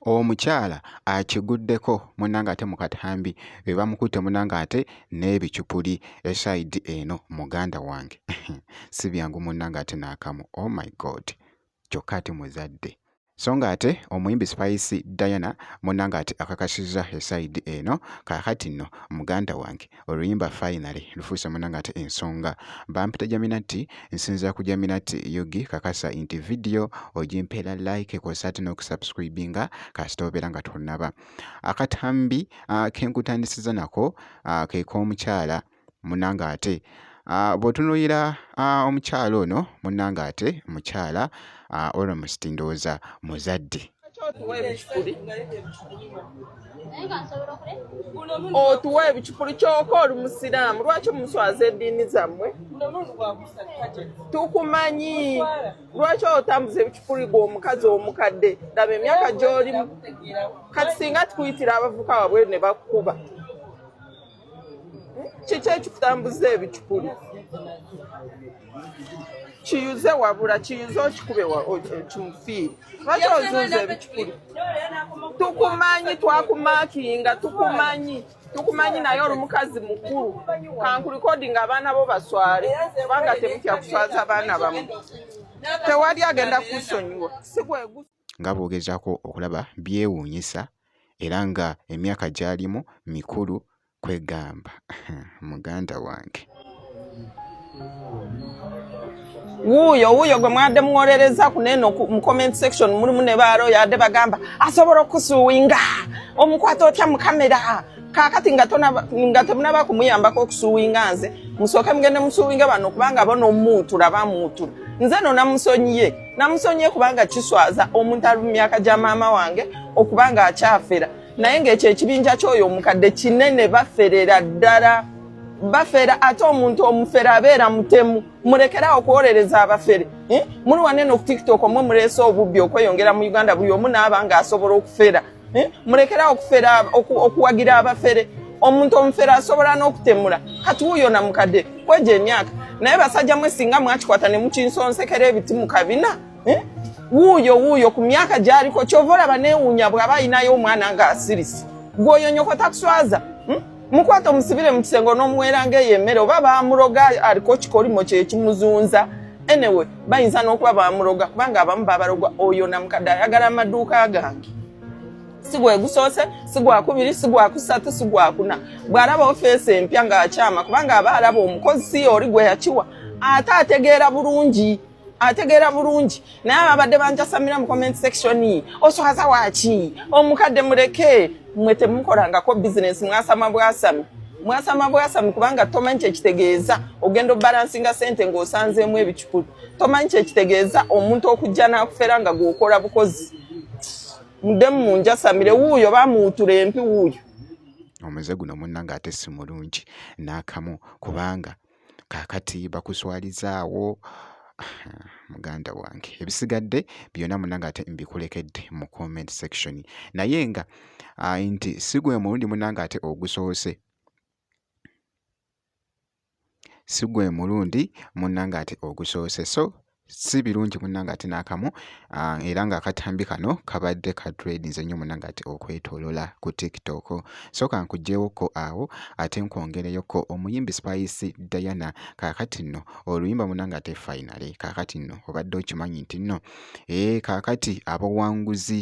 omukyala akiguddeko munange ate mu katambi be bamukutte munange ate n'ebicupuli esaidi eno muganda wange si byangu munange ate n'akamu oh my god kyokka ate muzadde. So ng'ate omuyimbi Spice Diana munna ng'ate akakasizza esayidi eno kaakati nno muganda wange oluyimba finally lufuuse munna ng'ate ensonga bampita Jaminati nsinzira ku Jaminati Yugi kakasa nti vidiyo ogimpeera like kw'ossa ate n'okusubscribinga kasita obeera nga tonnaba akatambi ah, ke nkutandisiza nako ah, ke k'omukyala munnange ate ah, bw'otunuulira ah, omukyala ono munnange ate mukyala ah, almost ndowooza muzadde otuwa ebicupuli kyoka oli musiraamu lwaki omuswaza eddiini zammwe tukumanyi lwaki otambuza ebicupuli gwe omukazi omukadde laba emyaka gyolimu kati singa tukuyitira abavuka wabweru ne bakukuba kiki ekitambuza ebicupuli kiyuze wabula kiyuze okikube kimufiire lwaki ozunza ebicupuli tukumanyi twakumakinga tukumanyi tukumanyi naye oli mukazi mukulu kankulikodi nga abaana bo baswale kubanga temutya kuswaza abaana bamu tewali agenda kusonyiwa sigwegu nga boogezaako okulaba byewuunyisa era nga emyaka gy'alimu mikulu kwegamba muganda wange. wuuyo wuuyo gwe mwadde muwolereza ku neeno mu comment section mulimu ne baalo yadde bagamba asobola okusuwinga omukwata otya mu kamera kakati nga temunaba kumuyambako okusuwinga nze musooke mugende musuwinga bano kubanga bona omuutula bamuutula nze no namusonyiye namusonyiye kubanga kiswaza omuntu ali mu myaka gya maama wange okuba nga akyafera naye ngaekyo ekibinja kyoyo omukadde kinene baferera ddala bafera ate omuntu omufere abeera mutemu murekerawo okuwolereza abafere eh? muli wanene okutiktok omwe muleese obubbi okweyongera mu uganda buli omu naaba nga asobola okufera eh? mulekerawo okufera okuwagira abafere omuntu omufere asobola n'okutemula kati wuyo na mukadde kwejo emyaka naye basajja mwe singa mwakikwata ne mukinsonsekera ebiti mu kabina eh? wuuyo wuuyo ku myaka gyaliko kyova olaba neewuunya bw'aba alinayo omwana ng'asirise gwoyo nyoko takuswaza hmm? mukwata omusibire mu kisenge onomuweranga eyo emmere oba bamuloga aliko kikolimo kyekimuzunza anyway bayinza n'okuba bamuloga kubanga abamu babalogwa oyo namukadde ayagala amaduuka gange si gwegusoose si gwakubiri si gwakusatu si gwakuna bw'alaba ofeesi empya ng'akyama kubanga aba alaba omukozi si yooli gwe yakiwa ate ategeera bulungi ategeera bulungi naye ababadde banjasamira mu comment section oswaza waki omukadde muleke mwe temukolangako bizinesi mwasama bwasami mwasama bwasami kubanga tomanyi kyekitegeeza ogenda obalansinga sente ngaosanzeemu ebicukulu tomanyi kyekitegeeza omuntu okujja nakufera nga gwokola bukozi mudemu munjasamire wuuyo bamuwutura empi wuuyo omuze guno munna ngaate simulungi nakamu kubanga kaakati bakuswaliza awo muganda wange ebisigadde byonna munange ate mbikulekedde mu comment section naye nga ah, nti si gwe mulundi munange ate ogusoose si gwe mulundi munange ate ogusoose so si birungi munnange ate n'akamu ah, era ng'akatambi kano kabadde ka tradinze nnyo munnange ati okwetolola ku tiktok so kankuggyewokko awo ate nkwongereyokko omuyimbi spice diana kaakati nno oluyimba munnange ate finale kaakati nno obadde okimanyi nti nno ee eh, kaakati abawanguzi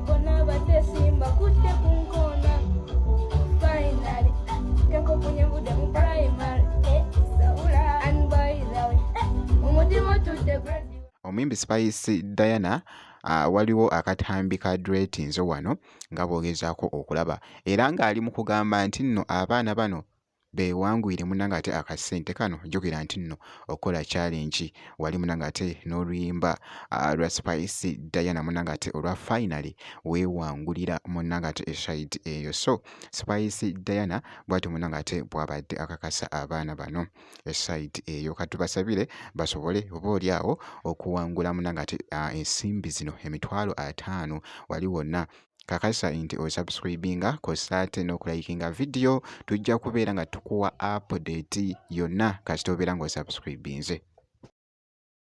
omuyimbi spice diana uh, waliwo akatambi ka dretinzo wano nga bwogezaako okulaba era ng'ali mu kugamba nti nno abaana bano bewangwire munange ate akasente kano jogera nti nno okukola challenge wali munange ate n'oluyimba ah, lwa spice diana munange ate olwa finally wewangulira munange ate eside eyo so spice diana bwati munange ate bwabadde akakasa abaana bano eside eyo katubasabire basobole oba oli awo okuwangula munange ate ah, ensimbi zino emitwalo ataano wali wonna kakasa nti osubscribinga kosa ate n'okulayikinga vidiyo tujja kubeera nga tukuwa apudeti yonna kasita obeera nga osubscribinze